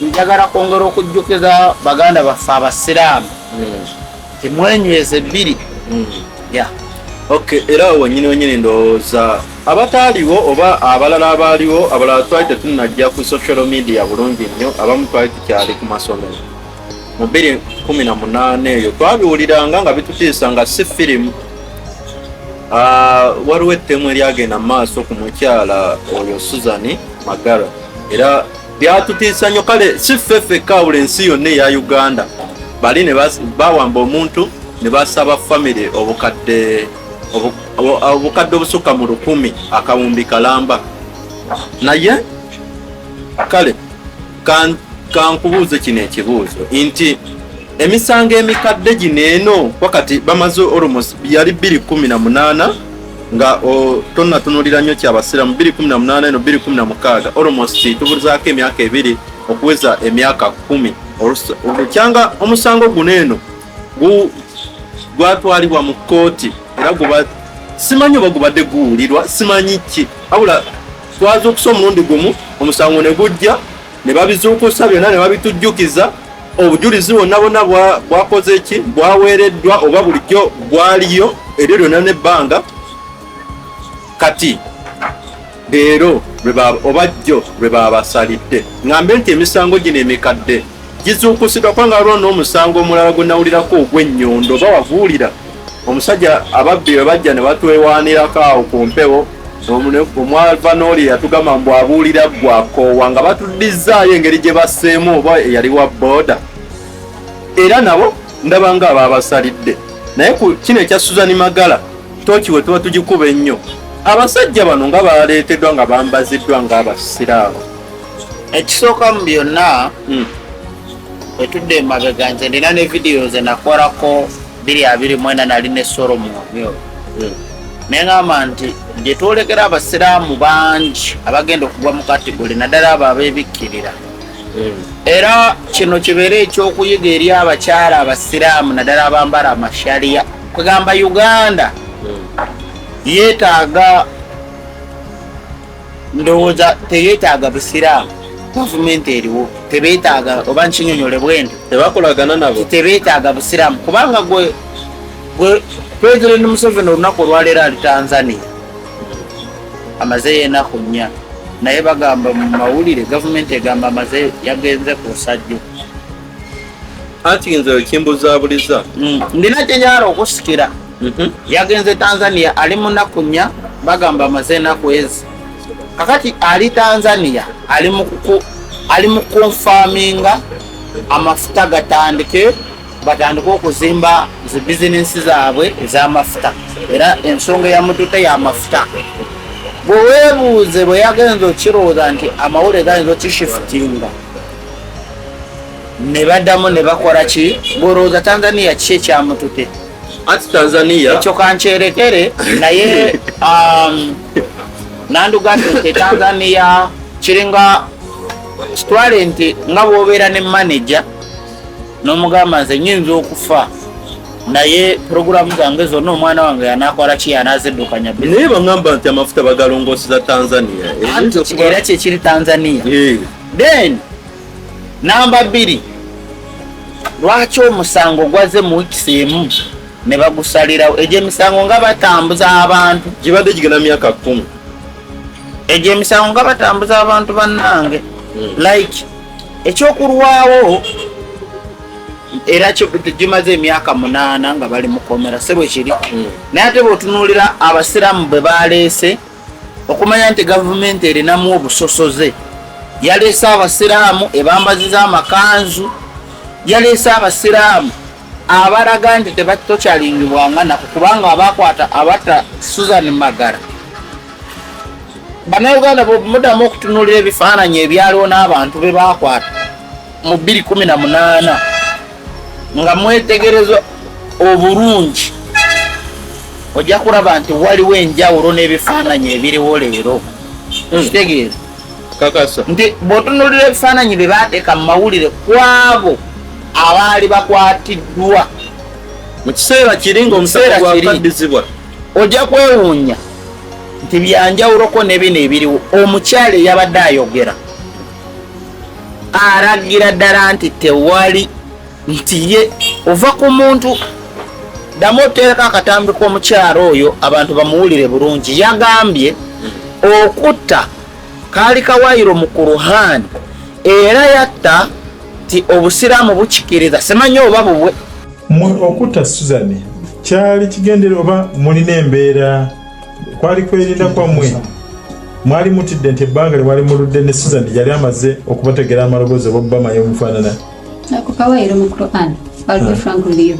Njagala kwongera okujjukiza baganda baffe abasiraamu nti hmm. mwenyweze bbiri hmm. ya okay era awo wenyini wenyini ndowooza abataaliwo oba abalala abaaliwo abalala twali tetunajja ku social media bulungi nnyo abamu twali tukyali ku masomero mu bbiri kumi na munaana eyo twabiwuliranga nga bitutiisa nga si firimu Ah, waliwo ettemu eryagenda mu maaso ku mukyala oyo suzani magara era byatutiisa nnyo kale si ffe ffekka awula ensi yonna eya uganda bali ne bawamba omuntu ne basaba famire obukadde obukadde obusukka mu lukumi akawumbi kalamba naye kale kankubuuze kino ekibuuzo nti emisango emikadde gino eno wakati bamaze olmos yali 218 nga tonatunulira nnyo kyabasiramu 218 eno 216 olmos tubulizaako emyaka ebiri okuweza emyaka 1 olukyanga omusango guno eno gwatwalibwa mu kkooti era guba simanyi oba gubadde guwulirwa simanyi ki abula twaza okusa omulundi gumu omusango ne gujja ne babizuukusa byonna ne babitujjukiza obujulizi bwonna bwonna bwakoze ki bwaweereddwa oba bulijjo bwaliyo eryo lyonna n'ebbanga kati leero oba jjo lwe baabasalidde ŋambe nti emisango gino emikadde gizuukusidwa kubanga waliwo n'omusango omulala gwe nawulirako ogw'ennyondo oba waguwulira omusajja ababbi bwe bajja ne batwewaanirako awo ku mpewo omwava n'oli yatugamba mbu abuulira gwakoowa nga batuddizzaayo engeri gye basseemu oba eyali wa booda era nabo ndaba nga abaabasalidde naye ku kino ekya suzani magala tokiwe tuba tugikuba ennyo abasajja bano nga baleeteddwa nga bambaziddwa ng'abasiraamu ekisooka mu byonna hmm. wetudde emabega nze ndina ne vidiyo ze nakolako biri abiri mwena nali ne solo mu omyoyo hmm. naye ngamba nti gyetwolekera abasiraamu bangi abagenda okugwa mu kategole naddala abo abebikkirira hmm. era kino kibeere ekyokuyiga eri abakyala abasiraamu naddala abambala amashaliya kwegamba uganda hmm. yetaaga ndowooza teyetaaga busiraamu gavumenti eriwo tebetaaga oba nkinyonyole bwendo tebakolagana nabo tebetaaga busiraamu kubanga gwe gwe president museveni olunaku olwaleero ali tanzania amazeyo enaku nnya naye bagamba mu mawulire gavumenti egamba amaze yagenze ku nsajjo anti nze kimbuzabuliza mm. ndina kyenyala okusikira Mhm. yagenze tanzania ali munaku nya bagamba amaze enaku ezi kakati ali tanzania ali mukunfaminga amafuta gatandike batandike okuzimba zi bizinensi zaabwe ezamafuta era ensonga eyamutute yamafuta bwewebuuze bweyagenza okirowooza nti amawulire gayinza okishifutinga nebaddamu nebakola ki bwerowooza tanzania ki ekyamutute Ati Tanzania. Ekyo kancherekere naye um, nandugambye nti Tanzania kiringa kitwale nti nga bwobeera ne manager n'omugamba nze nyinza okufa naye puroguramu zange zonna omwana wange yanakola ki yanaziddukanya naye bagamba nti amafuta bagalongoseza tanzania eh? era kyekiri tanzania eh. then namba bbiri lwaki omusango gwaze mu wikisi emu ne bagusalirawo egyo emisango nga batambuza abantu gibadde gigenda myaka kumi egyo emisango nga batambuza abantu bannange hmm. like ekyokulwawo era gimaze emyaka munaana nga bali mukomera si bwekiri hmm. naye ate bweotunuulira abasiraamu bwe baleese okumanya nti gavumenti erinamu obusosoze yaleese abasiraamu ebambaziza amakanzu yaleese abasiraamu abalaga nti tebatokyalingibwanga naku kubanga abakwata abata susan magara banauganda bwemudamu okutunulira ebifaananyi ebyaliwo n'abantu be bakwata mu 218 nga mwetegereza obulungi ojja kulaba nti waliwo enjawulo n'ebifaananyi ebiriwo leero hmm. okitegeera nti bw'otunulira ebifaananyi bye baateeka mu mawulire kwabo abaali bakwatiddwa mu kiseera kiri ngaomuseera gwakaddizibwa ojja kwewuunya nti byanjawuloko ne bino ebiriwo omukyala eyabadde ayogera aragira ddala nti tewali nti ye ova ku muntu ddamu oteereko akatambi k'omukyalo oyo abantu bamuwulire bulungi yagambye okutta kaali kawayiro mu kuruhani era yatta nti obusiraamu bukikiriza simanya oba bubwe mwe okutta suzani kyali kigendere oba mulina embeera kwali kwerinda kwammwe mwali mutidde nti ebbanga lye mwali muludde ne sizani yali amaze okubategera amaloboozi oba obubamanya omufaanana akukawayiro mu quran albe frank lio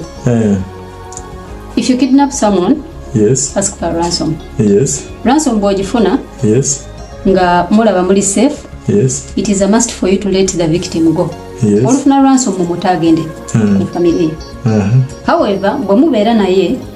if you kidnap someone yes ask for ransom yes ransom bwogifuna yes nga mulaba muli safe yes it is a must for you to let the victim go yes olufuna ransom mumuta agende hmm. mu family uh-huh. however bwe mubeera naye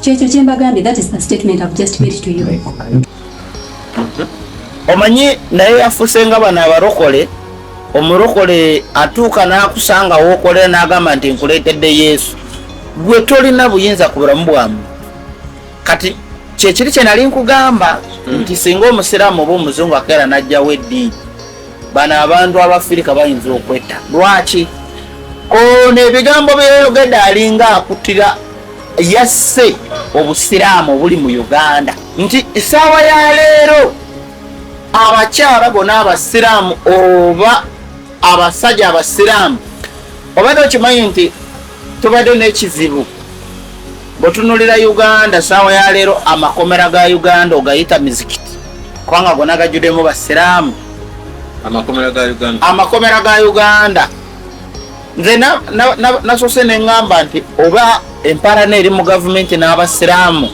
kyekyo kyembagambye that is the statement I've just made to you omanyi naye yafuse nga bano abalokole omulokole atuuka n'akusanga wookolera n'agamba nti nkuleetedde yesu gwe tolina buyinza ku bulamu bwamu kati kyekiri kye nali nkugamba nti singa omusiraamu oba omuzungu akeera n'ajjawo eddiini bano abantu abafirika bayinza okwetta lwaki ono ebigambo byeyogede alinga akutira yasse obusiraamu obuli mu uganda nti esaawa ya leero abakyala bona abasiraamu oba abasajja abasiraamu obadde okimanyi nti tubadde n'ekizibu bwetunulira uganda saawa ya leero amakomera ga uganda ogayita mizikiti kubanga gona gajjudemu basiraamu amakomera ga uganda nze nasose neŋŋamba nti oba emparana eri mu gavumenti n'abasiraamu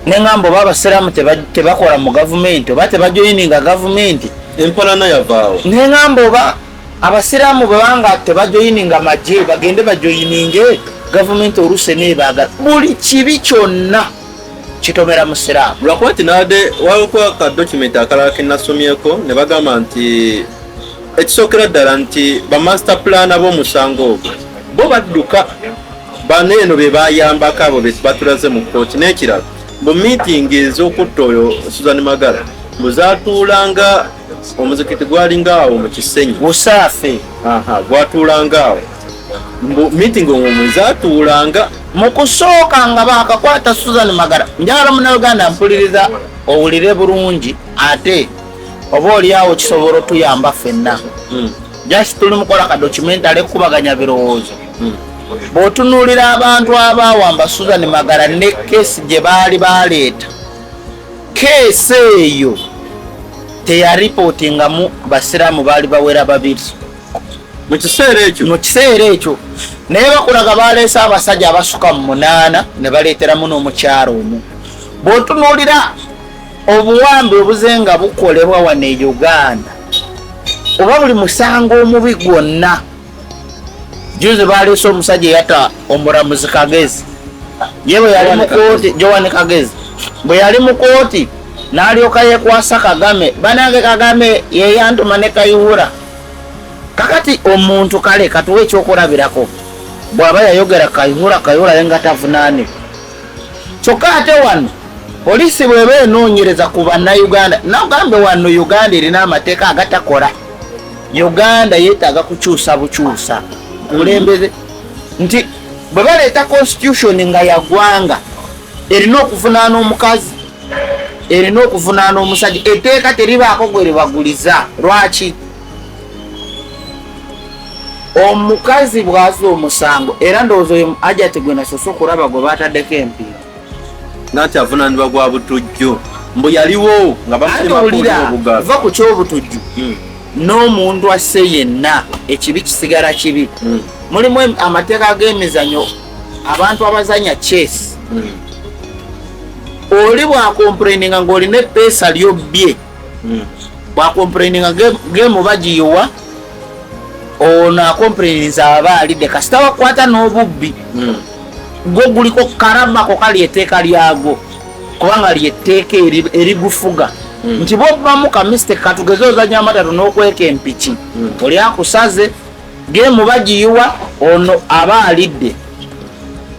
neŋŋamba oba abasiraamu tebakola mu gavumenti oba tebajoyininga gavumenti empalana yavaawo neŋŋamba oba abasiraamu bwebanga tebajoyininga magye bagende bajoyininge gavumenti oluusi nebaagala buli kibi kyonna kitomera musiraamu lwakuba nti nabadde waliko akadokumenti akalala kenasomyeko ne bagamba nti ekisookera ddala nti bamaster plan ab'omusango ogwo bo badduka bano eno be bayambako abo bebatulaze mu kkooti n'ekirala mu miitingi ez'okutta oyo suzan magala muzatuulanga omuzikiti gwalinga awo mu kisenyi busaafe gwatuulanga awo mbu meeting omwe zatuulanga mu kusooka nga baakakwata suzan magara njagala munauganda mpuliriza owulire bulungi ate oba oliawo kisobola otuyamba ffenna hmm. just tuli mukola kadocumentale kukubaganya birowoozo hmm. bw'otunuulira abantu abaawamba suzan magara ne kesi gye baali baleeta Keesi eyo teyaripootingamu basiraamu baali bawera babiri mu kiseera ekyo mu kiseera ekyo naye bakulaga baleese abasajja abasuka mu munaana ne baleeteramu n'omukyalo omu bw'otunuulira obuwambi obuze nga bukolebwa wano e uganda oba buli musango omubi gwonna juzi baleese omusajja eyatta omuramuzi kagezi ye bwe yali mu kooti joan kagezi bwe yali mu kooti n'alyoka yekwasa kagame banange kagame yeyantuma ne kayiwura kakati omuntu kale katuwa ekyokulabirako bw'aba yayogera kayiwura kayiwura ye nga tavunaanibwa kyokka ate wano poliisi bweba enoonyereza ku bannayuganda nagambe wano uganda erina amateeka agatakola uganda yetaaga kukyusa bukyusa kulembeze nti bwe baleeta constitution nga yagwanga erina okuvunaana omukazi erina okuvunaana omusajja etteeka teribaako gwe libaguliza lwaki omukazi bwaza omusango era ndowooza oyo ajati gwe nasoose okulaba gwe bataddeko empiira nanti avunanibwa gwa butujju mbu yaliwo nga bamulimakubugaza ku kyobutujju hmm. n'omuntu asse yenna ekibi kisigala kibi hmm. mulimu amateeka g'emizanyo abantu abazanya chase hmm. oli bwakompureninga ng'olina epeesa lyobbye hmm. bwakomplaininga game oba giyiwa ono akomplaininza aba alidde kasita wakwata n'obubbi hmm. gwo guliko karamako kali eteeka lyagwo kubanga lyetteeka erigufuga hmm. nti bwobamu kamiste katugeze ozanya amatatu n'okweka empiki oli akusaze Gemu bagiyiwa ono aba alidde.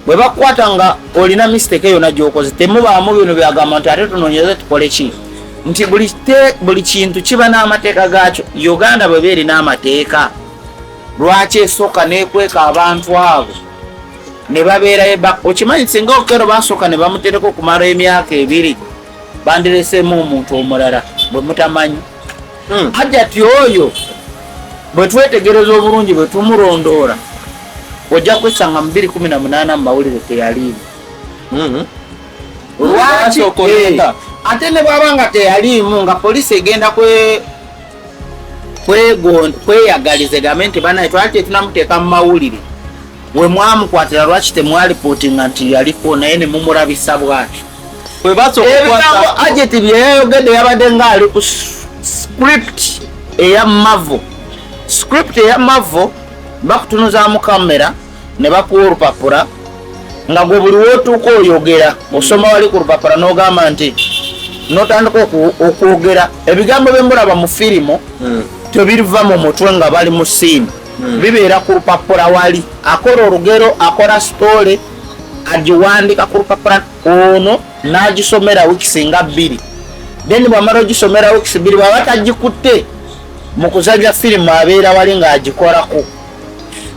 Bwe bakukwata nga olina misiteeke yonna gy'okoze temubaamu bino byagamba nti ate tunoonyeze tukole ki nti buli kintu kiba n'amateeka gaakyo. Uganda bwe beerina amateeka lwaki esooka n'ekweka abantu abo ne babeerayo ba okimanyi singa okero basooka ne bamutereka okumala emyaka ebiri bandireseemu omuntu omulala bwe mutamanyi. hmm. hajati oyo bwe twetegereza obulungi bwe tumulondoola ojja kwesanga mu 218 mu mawulire teyaliimu hmm. lwaki eh, ate ne bwaba nga teyaliimu nga poliisi egenda kwe kweyagaliza egambe nti banaye twali tetunamuteeka mu mawulire wemwamukwatira lwaki temwalipotinga nti yaliko naye nemumurabisa bwatyo ebigambo ajeti byeyayogedde yabadde ngaali ku script eya mavo script eya mavo bakutunuzamu kamera ne bakuwa olupapula nga gwe buli wotuuka oyogera osoma wali ku lupapula n'ogamba nti notandika okwogera ebigambo byemulaba mu firimu hmm. tebiriva mu mutwe nga bali mu siini hmm. bibeera ku lupapula wali akola olugero akola sitoole agiwandika ku lupapula ono n'agisomera wikisi nga bbiri then bwamala ogisomera wikisi bbiri bwaba tagikutte mu kuzanya firimu abeera wali ng'agikolako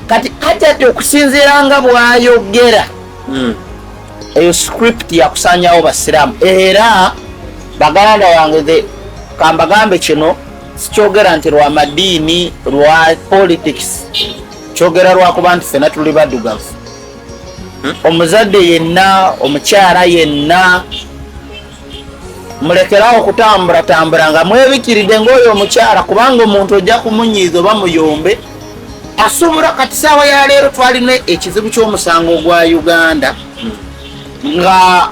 kati ajati okusinziira nga bwayogera hmm. eyo script yakusanyawo basiramu era baganda wange the kambagambe kino sikyogera nti lwa madiini lwa politics kyogera lwakuba nti fena tuli badugavu omuzadde yenna omukyala yenna mulekerawo okutamburatambura nga mwebikiride ngaoyo omukyala kubanga omuntu ojja kumunyiiza oba muyombe asobola kati saawa yaleero twalina ekizibu kyomusango gwa uganda nga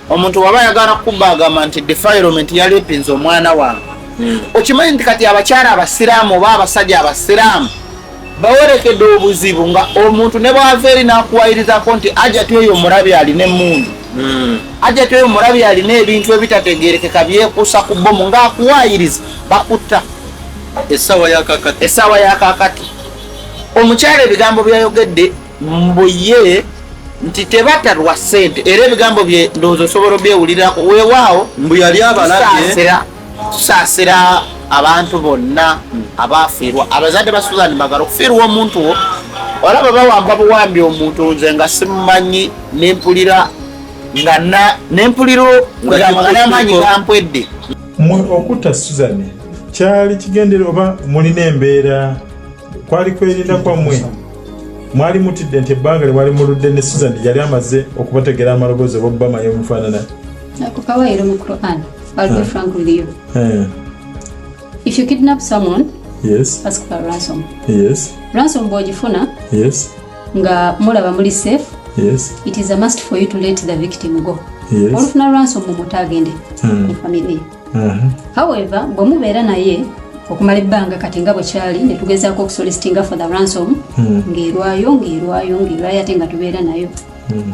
omuntu waba ayagala kukuba agamba nti defilement yalipinza omwana wange hmm. okimanyi nti kati abakyala abasiraamu oba abasajja abasiraamu bawerekedde obuzibu nga omuntu ne bwava eri nakuwayirizako nti ajati oyo omulabi alina emundu hmm. ajati oyo omulabi alina ebintu ebitategerekeka byekuusa ku bomu ngaakuwayiriza bakutta essaawa yakakati omukyalo ebigambo byayogedde mbuye nti tebata lwa sente era ebigambo bye ndowooza osobola obyewulirako wewaawo mbu yali abalabye tusaasira abantu bonna abaafiirwa abazadde ba suzan magala okufiirwa omuntu wo olaba bawamba buwambi omuntu nze nga simumanyi nempulira nga nempulira amaanyi gampwedde mwe okutta suzan kyali kigendere oba mulina embeera kwali kwerinda kwammwe mwali mutidde nti ebbanga lye mwali muludde ne suzan yali amaze okubategeera amaloboozi oba obubamanyi omufaanana I'll be frank with you. Uh, if you kidnap someone, yes. ask for ransom. Yes. Ransom bw'ogifuna yes. nga mulaba muli safe yes. it is a must for you to let the victim go yes. olufuna ransom mumuta agende mm. family uh -huh. however bwe mubeera naye okumala ebbanga kati nga bwekyali netugezaako okusolisitinga for the ransom mm. ng'erwayo ng'erwayo ng'erwayo ate nga tubeera nayo mm.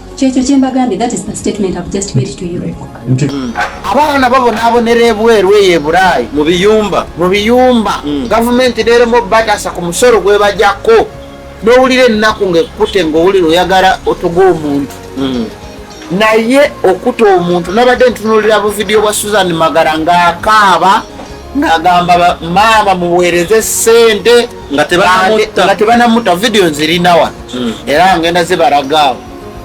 kyekyo kyembagambye that is the statement I've just made to you abaana babonabonera ebweru eyo ebulaayi mu biyumba mu biyumba mm. gavumenti neremu obatasa ku musolo gwebajako nowulira ennaku ngaekute ngaowulira oyagala otuga omuntu mm. naye okuta omuntu nabadde ntunulira buvidiyo bwa susan magara ngaakaaba ngagamba maama muweereze sente nga tebanamutta vidiyo nzirina wano hmm. era ngenda zibaragaawo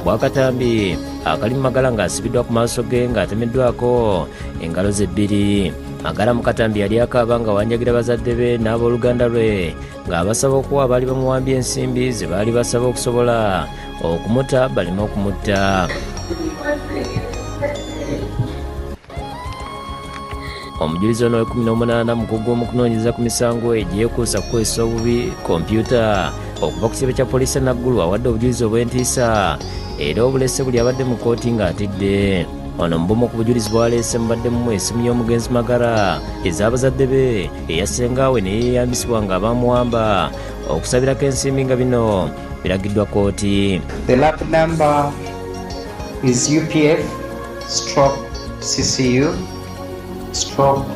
bwakatambi akali mu magala ng'asibiddwa ku maaso ge ng'atemeddwako engalo ze bbiri magala mu katambi yali akaaba nga wanjagira bazadde be n'abooluganda lwe ng'abasaba okuwa abaali bamuwambye ensimbi ze baali basaba okusobola okumuta baleme okumutta omujulizi ono wekumi n'omunaana mukugu gwomu kunoonyereza ku misango egyekuusa kukozesa obubi kompyuta okuva ku kitebe kya poliisi enaggulu awadde obujulizi obw'entiisa era obulese buli abadde mu kkooti ng'atidde ono mubumu ku bujulizi bwaleese mubaddemu esimu y'omugenzi magara ez'abazadde be eya sengaawe ne yeeyambisibwa nga abamuwamba okusabirako ensimbi nga bino biragiddwa kkooti is UPF stroke CCU stroke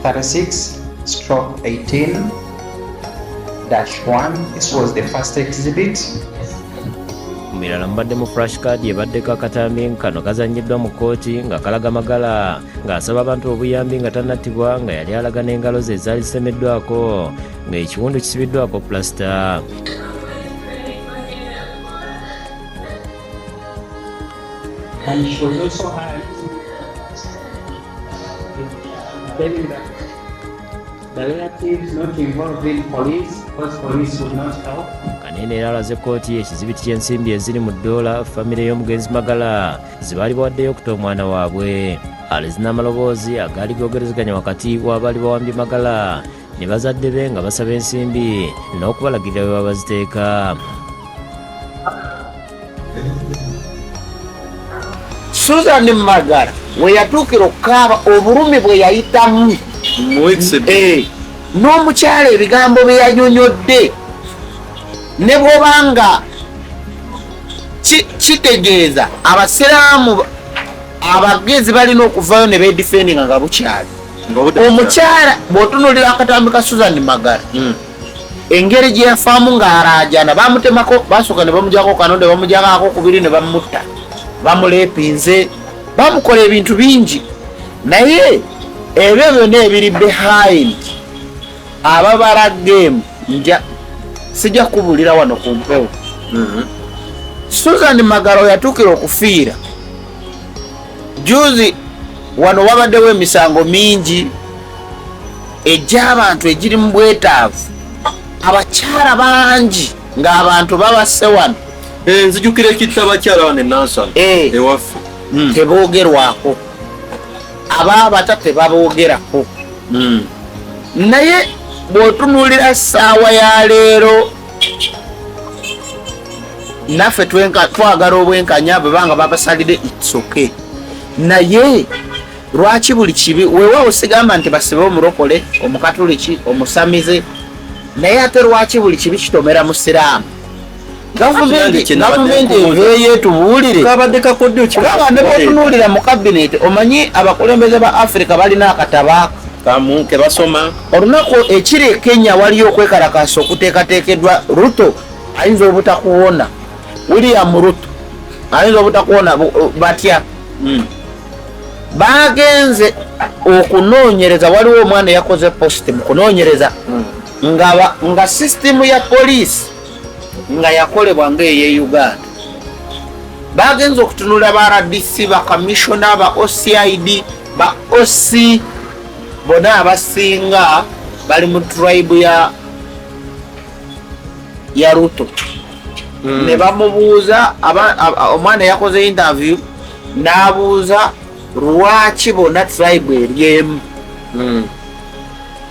36 stroke 18 dash 1 this was the first exhibit mirala mubadde mu fresh card ebaddeko akatambi kano kazanyiddwa mu kkooti nga kalaga magala ng'asaba abantu obuyambi nga tanattibwa nga yali alaga n'engalo ze ezaali zisemeddwako ng'ekiwundu kisibiddwako pulasita And she was also hired telling that the relatives not involved in police because police would not help. Kanene era alaze kkooti ekizibiti ky'ensimbi eziri mu ddoola famire y'omugenzi Magala ze baali bawaddeyo okuta omwana waabwe. Alizina amaloboozi agaali googerezeganya wakati w'abaali bawambye Magala ne bazadde be nga basaba ensimbi n'okubalagirira bwe babaziteeka susan magala we yatuukira okukaaba obulumi bwe yayitamu eh, n'omukyala ebigambo bye yanyonyodde ne bwoba nga kitegeeza abasiraamu abagezi balina okuvayo ne bedifendinga nga bukyali omukyala bwotunulira akatambi ka susan magara hmm. engeri gyeyafaamu ng'alaajana bamutemako basooka ne bamujako kano ne bamujakako kubiri ne bamutta bamuleepinze bamukola ebintu bingi naye ebyo byonna ebiri behind ababala game nja sijja kubulira wano ku mpewo hmm. susan magara oyatuukira okufiira juzi wano wabaddewo emisango mingi egy'abantu egiri mu bwetaavu abakyala bangi ng'abantu babasse wano eh, nzijukira ekitta abakyala wano enansa eh. ewaffe hmm. teboogerwako abaabata tebaboogerako hmm. naye bw'otunuulira ssaawa ya leero naffe twagala obwenkanya bwebanga babasalide its okay naye lwaki buli kibi wewawo sigamba nti basibe omulokole omukatuliki omusamize naye ate lwaki buli kibi kitomera musiraamu gavumenti eveeyo etubuulire kaba nebatunuulira mu kabineti omanyi abakulembeze ba africa balina akataba kamu kebasoma Olunaku ekiri e Kenya waliyo okwekalakaasa okuteekateekedwa Ruto ayinza obutakuwona William Ruto ayinza obutakuwona batya hmm. bagenze okunoonyereza waliwo omwana eyakoze post mu kunoonyereza hmm. nga sisitimu ya poliisi nga yakolebwa nga eye Uganda bagenze okutunula ba rdc bakamishona ba ocid ba oc bona abasinga bali mu tribe ya ya ruto mm. ne bamubuuza omwana yakoze interview n'abuuza lwaki bona tribe eryemu mm.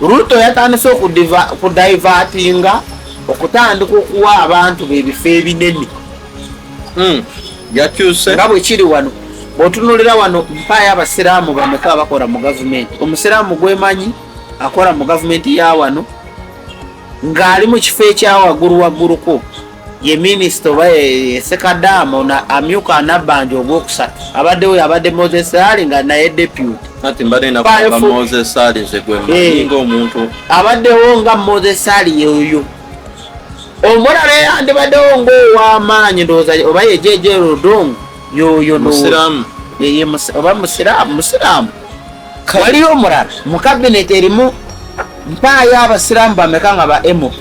ruto yatandise okudivatinga okutandika okuwa abantu bebifo ebinene hmm. yakyuse nga bwe kiri wano bw'otunuulira wano mpaayo abasiraamu bameka abakola mu gavumenti omusiraamu gwemanyi akola mu gavumenti ya wano ng'ali mu kifo ekyawaggulu wagguluko ye minisita oba esekadaama ono amyuka anabbanja ogwokusatu abaddewo yabadde moses ali nga naye deputy eh. abaddewo nga moses ali yeoyo omulala eyandibaddewo ngaow'amaanyi ndowooza oba yejeje rodong yoyo musiraamu oba musiraamu musiraamu waliyo omulala mu kabineti erimu mpaayo abasiraamu bameka nga ba mp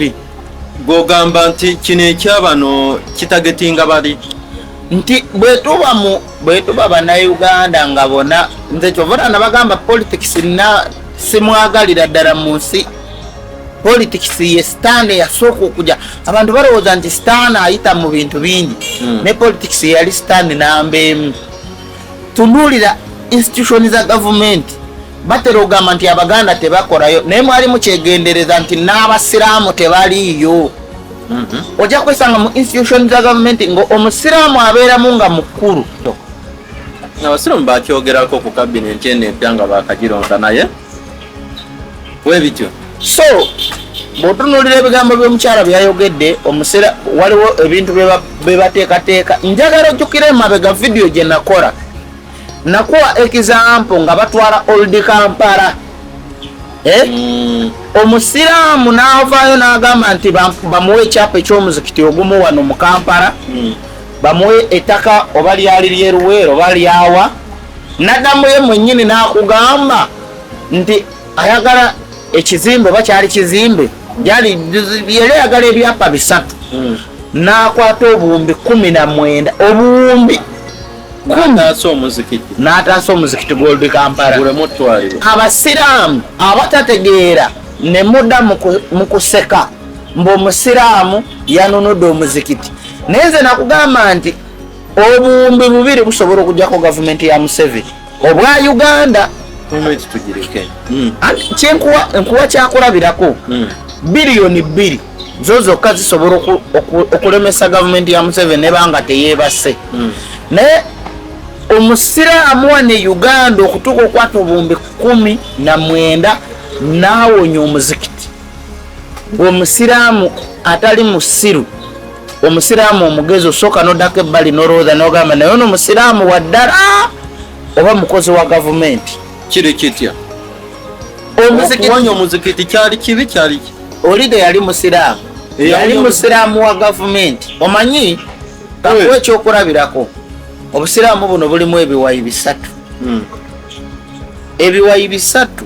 gwogamba nti kino ekyabano kitagetinga bali nti bwetuba mu bwetuba banauganda nga bona nze kyovona nabagamba politics na simwagalira ddala mu nsi politics ye sitaani yasooka okuja abantu balowooza nti sitaani ayita mu bintu bingi hmm. ne politics yeyali sitaani namba emu tunuulira institution za gavumenti batera ogamba nti abaganda tebakorayo naye mwali mukyegendereza nti n'abasiraamu tebaliiyo hmm. ojja kwesanga mu institution za gavumenti nga omusiraamu abeeramu nga mukulu abasiraamu bakyogerako ku kabinenti eno empya nga bakagironda naye webityo so bwotunulira ebigambo byomukyala byeyayogedde omusera waliwo ebintu bebateekateeka njagala ojjukira emabega vidiyo gye nakola nakuwa ekizampo nga batwala oldi kampala eh? mm. omusiraamu naavaayo n'agamba nti bamuwe ekyapa ekyomuzikiti ogumu wano mu kampala mm. bamuwe ettaka oba lyali lyeruweero oba lyawa Nadamu ye mwenyini nakugamba nti ayagala ekizimbe oba kyali kizimbe yali yali ayagala ebyapa bisatu hmm. nakwata obuwumbi kumi na mwenda obuwumbi n'ataasa omuzikiti gw'oludi kampala abasiraamu abatategeera ne muda mu kuseka mbu omusiraamu yanunudde omuzikiti naye nze nakugamba nti obuwumbi bubiri busobola okujako gavumenti ya museveni obwa uganda hmm. kyenkuwa nkuwa kyakulabirako hmm. biliyoni bbiri zo zokka zisobola okulemesa gavumenti ya museveni nebanga teyebase hmm. naye omusiraamu wa ne uganda okutuuka okwata obuwumbi kumi na mwenda nawonya omuzikiti omusiraamu atali musiru omusiraamu omugezi osooka nodako ebbali nolowooza nogamba naye ono musiraamu waddala oba mukozi wa gavumenti kiri kitya okuwonya omuzikiti kyali kibi kyali olide yali musiraamu yali musiraamu wa gavumenti omanyi kakuwa ekyokulabirako obusiraamu buno bulimu ebiwayi bisatu hmm. ebiwayi bisatu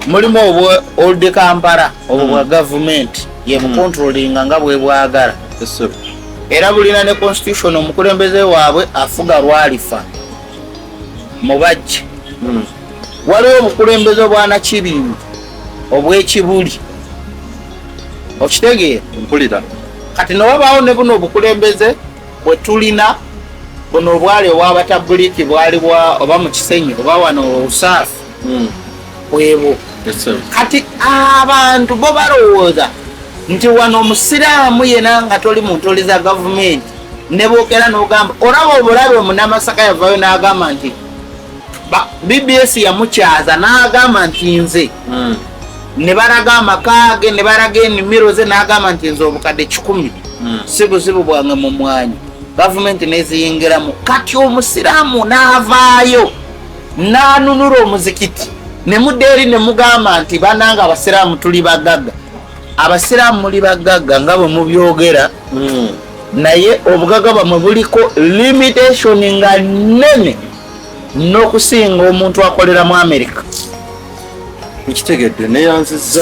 mulimu obwa old kampala obwo bwa hmm. gavumenti yebukontrolinga hmm. nga bwebwagala era bulina ne constitution omukulembeze waabwe afuga lwalifa mubajje hmm. waliwo obukulembeze obwanakibindu obwekibuli okitegeera mpulira kati newabaawo ne buno obukulembeze bwetulina buno obwali obwabatabuliiki bwali oba mukisenyi oba wano usaafu hmm. bwebwo kati abantu bo balowooza nti wano omusiraamu yena nga toli mu ntoli za gavumenti nebwokera nogamba olaba obulabe omunamasaka yavayo nagamba nti bbs yamukyaza nagamba nti nze hmm. nebalaga amakaage nebalaga enimiro ze nagamba nti nze obukadde kikumi hmm. si buzibu bwange mu mwanya gavumenti neziyingiramu kati omusiraamu navaayo n'anunula omuzikiti ne mudda eri ne mugamba nti bananga abasiraamu tuli bagagga abasiraamu muli bagagga nga bwe mubyogera hmm. naye obugagga bwamwe buliko limitation nga nnene n'okusinga omuntu akolera mu amerika ekitegedde neyanziza